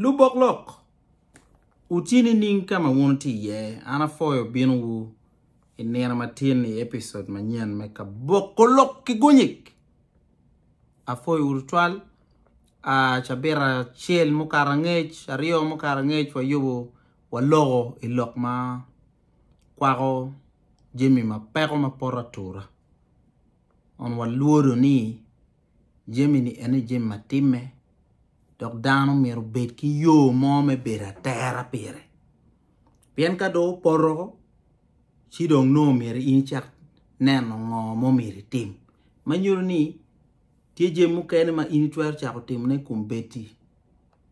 Lubok lok, wuti nining ka ma wun wuti iye? An apwoyo binowu i nino matin i episode manyen me Kaboko Lok ki Gunyik. Apwoyowu tutwal. Ah, cabit acel mukato angec, aryo mukato angec wayubo waloko i lok ma kwako jami ma peko ma poto atura. Kun walwodo ni Jami-ni ene jami ma timme, dok dano myero obed ki yo mo me bedo atera pire. Pien ka dong opoto, ci dong nongo myero in icak neno ngo ma omyero itim. Ma nyuto ni tye jami mukene ma in itwero cako timone i kom bed-di,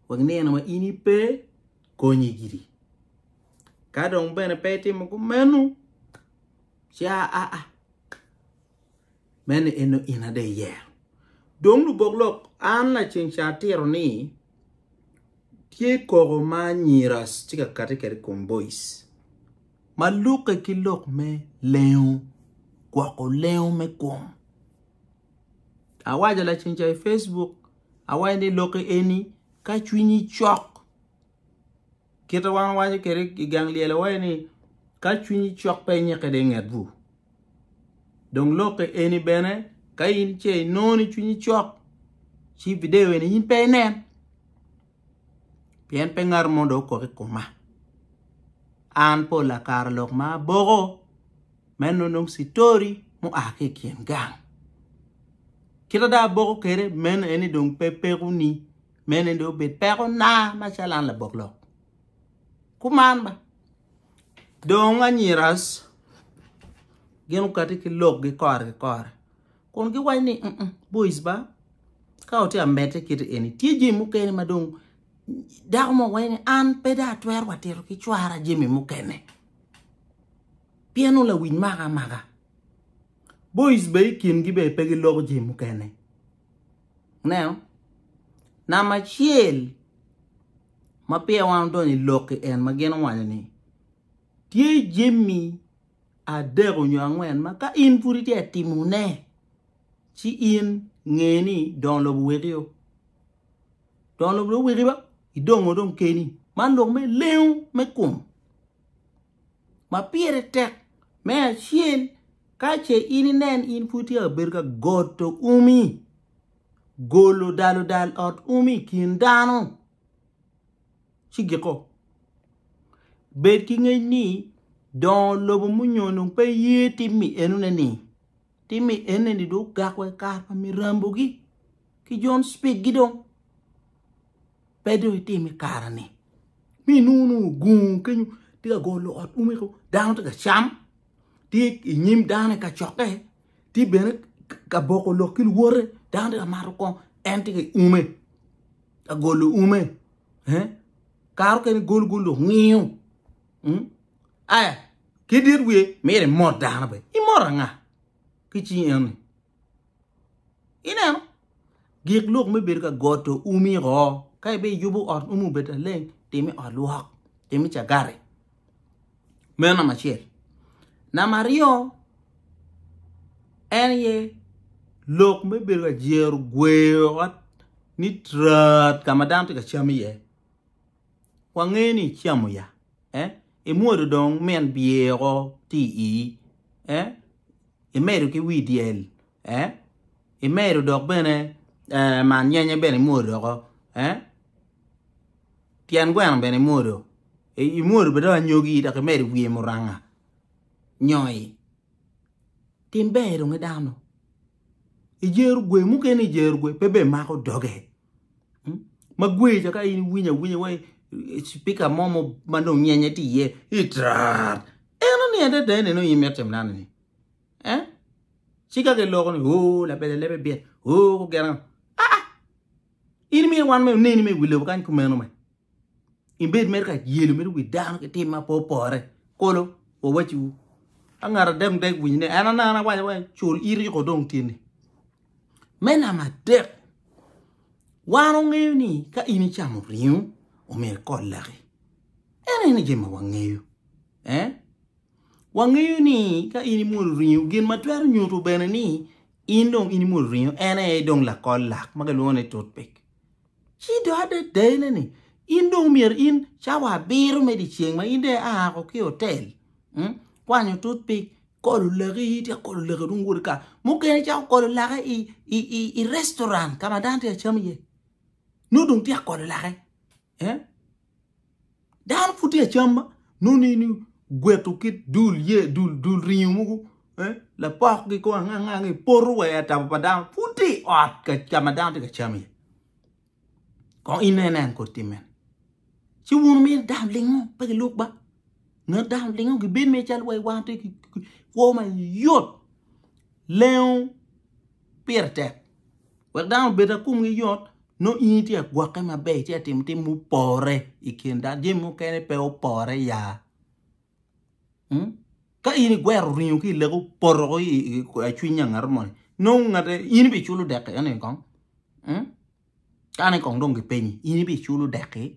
wek nino ma in ipe konyi gidi. Ka dong bene pe itimo kumeno, ci aa. Meno en nongo in ada iyero. Dong lubok lok, an laceng ca atiro ni tye koko ma anyira tye ka kati kede ikom bois ma lukke ki lok me lengo gwoko lengo me kom. Awaco laceng ca i Facebook, awaco ni lokke eni ka cwinyi cok kite wan wawaco kede igang lyel awaco ni ka cwinyi cok pe inyike de inget bur. Dong lokke eni bene ka in ce inongo ni cwinyi cok ci video eni in pe inen pien pe ngat mo dong okok i koma. An pol lakara lok ma aboko me nono citori mua ki i kin gang. Kit ma dong aboko kwede meno aye ni dong pe pekoni meno aye ni dong obed pekona macalo an labok lok. Kuman ba. Dong anyiras gin okati ki lokgi kore ki kore kun giwaco ni boic ba ka watye ka medde kiti eni tye jami mukene ma dong dako mo waco ni an pe dong atwero wa tito ki cwara jami mukene pien nongo lawic maka amaka boic bene i kingi bene pe giloko jami mukene ineno? Namba acel ma peya wan odonyo i lok-ki en ma gin owaco ni, Tye jami adek nyo angwen ma ka in pud itye ka timone, ci in nge ni dongo lobo owekio. Dongo lobo dong oweki ba, idongo dong keni. Man lok me lengo me kom ma pire tek. Me acel, ka ce in inen in pud itye ka bedo ka goto umi, golo daludal ot umi i kin dano ci giko. Bed ki ngec ni dongo lobo munyo dong pe ye tim mi enune ni tim mi enne ni dong ogak wa i kare pa mirambo gi ki John Speed gi dong pe dong itim i kare ni mi nunu gungu kenyo tye ka golo ot umi ko dano tye ka cam. tye i nyim dano i kacokke, tye bene ka boko lok ki luwote, dano tye ka mato kong en tye ka ume, ka golo ume, kare mukene golo golo lok ngiyo, hmm? aya ki dit wiye myero imot dano bene, imot anga ki cing eni? Ineno? Gik lok me bedo ka got to umi ho. Ka ibe yubo ot umi obed aleng, time ot lwok, time cagari. Meno nama acel. Nama aryo, en ye lok me bedo ka jero gweyo ot ni trat ka ma dano tye ka cam iye. Wangeyo ni icamo ya, eh? Imwodo dong min bye oko ti i ii, eh? Imedo ki wii dyel, eh? Imedo dok bene, eh, man nyenye bene imwodo oko, eh? Tyen gweno bene imwodo, eh? Imwodo bene dong anyogi dok imedo i wiye muranga, nyoi. Tim ber dong i dano. I jer gwe, mukene i jer gwe pe bemako doge. hmm? ma gweyo ca ka in iwinyo awinya wai spika mo ma dong nyenye tye iye itrar en oni adada ene nongo imit tim nano ni eh ci ka giloko ni o labele lebe bit o gena ah in mi wan me oneni me wilobo kany kumeno me ibed mere ka yelo mere wi dano ki tim ma pe opore kolo wawacciwu ka ngat adek dek winyo ne en anana awaco waco cul iti ko dong tyeni me nama dek wan ongeyo ni ka in icamo ringo omyero ikot laki ene ni jema wangeyo eh wangeyo ni ka in imwodo ringo gin ma twero nyuto bene ni in dong in imwodo ringo en aye dong lakol lak ma kilwongo ni toothpick Ci dong ate dayine ni, In dong myero in cawa abiro me dyeceng ma in dong ia ko ki otel, kwanyo tutpik, kolo laki, ityeko kolo laki dong iwot ika. Mukene icako kolo laki i restaurant ka ma dano tye ka cam iye. Nongo dong ityeko kolo laki. Dano pud tye ka cam ma nongo in igweto ki dul ye dul dul ringo mogo eh lapok gi kong ange ange ange ipoto wa i atabo pa dano pud tye i ot ka ka ma dano tye ka cam iye kong in nen nen kodi tim mene ci wun wumiyo dano lingo pe gilub ba ngat dano lingo gibed mere calo wai wan tye ki ki kwo mayot lengo pire tek. wek dano obed ma komgi yot, nongo in itye ka gwokke maber, itye ka timo tim mupore i kin dano, jami mukene pe opore ya. Hmm? Ka in igwero ringo ki ilego poto i i- i- i cwiny nya ngato moni, nongo ngate in ibiculo deki eno kong? Hmm? Kane kong dong gipenyi, in ibiculo deki?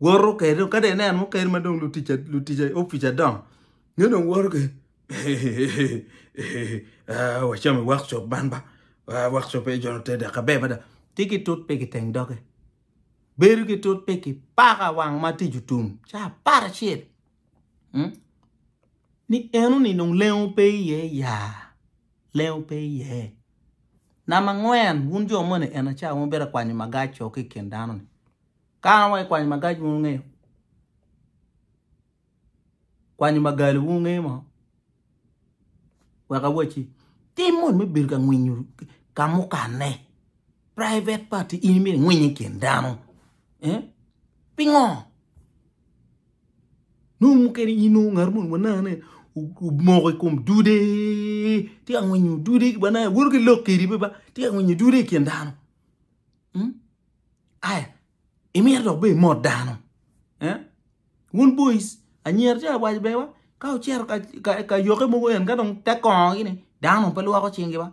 woto kede ka dong ineno mukene ma dong lutic opic adongo nyo dong woto kede wacam i wok cop man ba wok cop aye jone te dok aber mada ci ki tut pigi i teng doge bedo ki tut pigi paka wang ma tic otum ca apar acel ni eno ni dong lengo pe iye ya. Lengo pe iye. Namba angwen, wun jo moni en aca wun bedo kwanyo magac co ki i kin dano ni. Ka an wa i kwanyo magac wun wunge. Kwanyo magali wun wunge mo. Weka waci. Tim moni me bedo ka ngwinyo ka mukane. Private party in mire ngwinyo i kin dano. Eh? Pingo? Nongo mukene inongo ngat moni wanangane omoko i kom dude, tye ka ngwinyo dude, wanange woto ki lok kwede bene ba, tye ka ngwinyo dude i kin dano. Hmm? Aya, imito dok bene imot dano. Eh? Wun boys, anyira tye ka waco bene ba, ka wucito ka, ka, ka yokke mogo en ka dong te kongogi ni, dano dong pe lwoko cingi ba.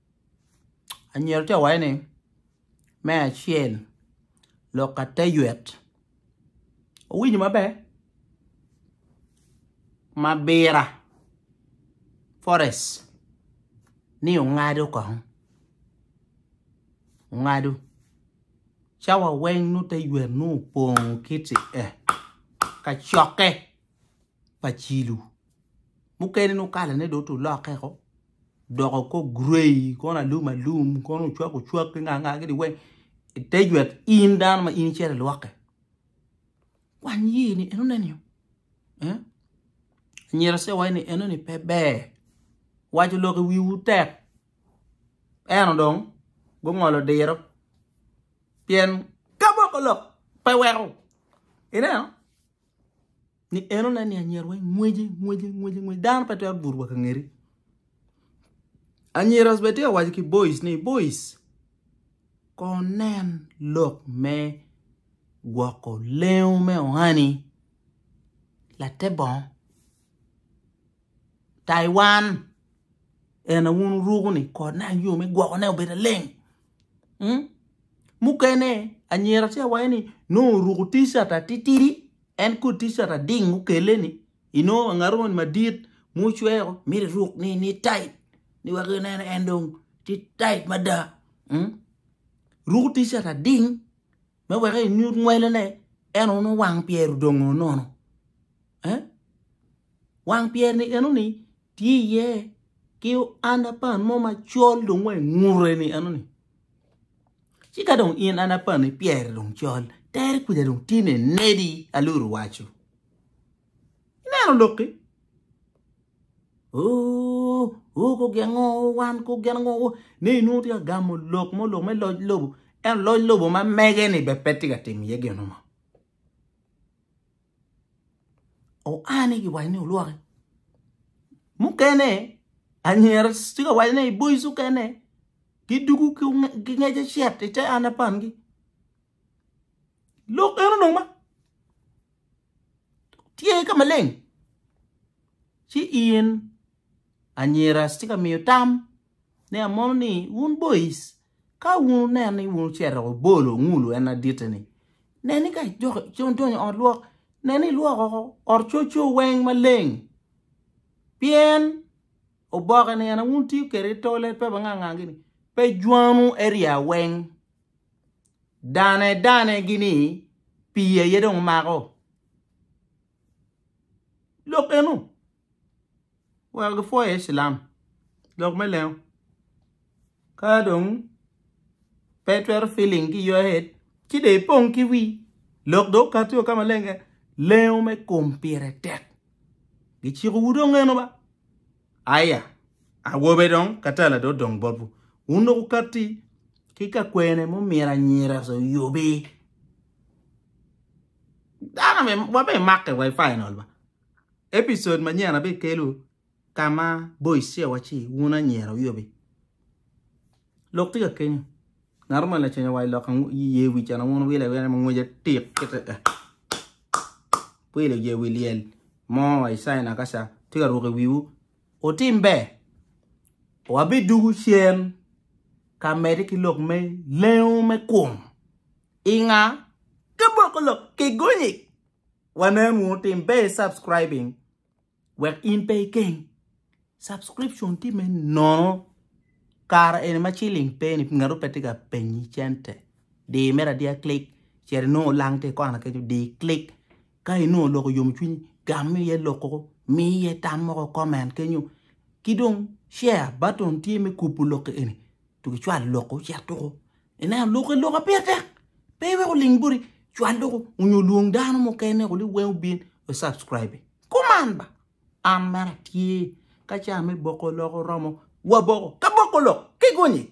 anyira tye ka waco ni me acel lok ka te ywet owinyo maber mabira forest ni ongado kong ongado cawa weng nongo te ywet nongo opong kiti ee kacokke. pa cilo mukene nongo kalane dong tye olokke woko odoko kor gray kono alum alum kono ocwak ocwak ki nga nga kiti weng i te jwet in dano ma in icito ilwokke wang iyeni enoni anyira ce iwaci ni enoni pe ber waco lok i wiwu tek ento dong gungolo diro pien ka moko lok pe weko ineno. ni en onen ni anyira weng ngweci ngweci ngweci ngweci dano pe twero buto wa ka ngeti anyira bene tye ka waco ki boys ni boys kor nen lok me gwoko lengo me ohani late bongo Taiwan en aye wun wuruko ni kot ne ayom me gwoko ne obedo aleng. Hmm? Mukene anyira tye awaye ni no oruko t-shirt atitidi en kod t-shirt ading mukele ni ino angato ni madit mucweo miri ruk ni ni tight ni wek inen en dong ti tight mada. Hmm? Ruko t-shirt ading me wek inyut ngwelene en ono wang pyero dongo nono. Eh? Wang pyer ni eno ni tye iye ki anda pan mo macol dong wa ngure ni eno ni. Ci ka dong in anda pan ni pyer dong col, tere kwida dong tye ne nedi aluru wacu. Ineno loki? Oh, oh ko gen ngo wan ko gen ngo ne inu tye ka gamo lok mo lok me loj lobo. En loj lobo ma mege ni be pe tye ka timo iye geno mo. oane giwaco ni olwoke mukene anyira tye ka waco ni i boys okene gidugu ki ngec acet i te ana pangi lok eno dong ma tye ka maleng ci in anyira tye ka miyo tam ni amono ni wun boys Ka wun wuneno ni wun wucito wa bolo ongulu en aditi-ni, nen ni ka idonyo ot lwok, nen ni ilwoko oko ot coco weng maleng, pien oboke-ni en aye wun wutiyo kwede i tole, pe wangang ngang gini, pe jwangwu eria weng, dane dane gini, pii aye dong mako. Lok eno. wek gipwoi iye cilam lok me lengo ka dong pe itwero feeling ki your head ci dong ipong ki wii lok dong okati ka maleng keken lengo me kom pire tek giciko wu dong eno ba aya awobe dong katala dong odong botwu wun dong wukati ki ka kwene ma omyero anyira oyobi dano wape make wifi nol ba Episode manyen abbe kelu kama boyce waci wun anyira wiobi lok tye ka kenyo ngato ma lacenya wa ilok ye wi cana wun wile wile mangweja tik kite eh wile ye wi lyel mo wa isai nakasa tye ka ruke wiwu otim ber wa bi dugu cen ka mede ki lok me lengo me kum inga ka boko lok ki gonyi wanen wunu tim be subscribing wek in pe ikeng subscription tye me nono kara eni ma ciling pe ni ngatu pe tye ka penyi cente di mere adiya click cito inongo lang tye ikona kenyo di click ka inongo loko yom cwiny gam iye loko mi iye tam moko comment kenyo ki dong share button tye me kubo lok eni Tugi cwal loko cit tuku. Ineno lok i loka pire tek. Pe wek oling boti. Cwal tuku. Onyo lwong dano mukene kuli weng obin we subscribe. Kuman ba. An mera tye. Ka ca me boko loko romo, waboko. Ka boko lok, kigonyi.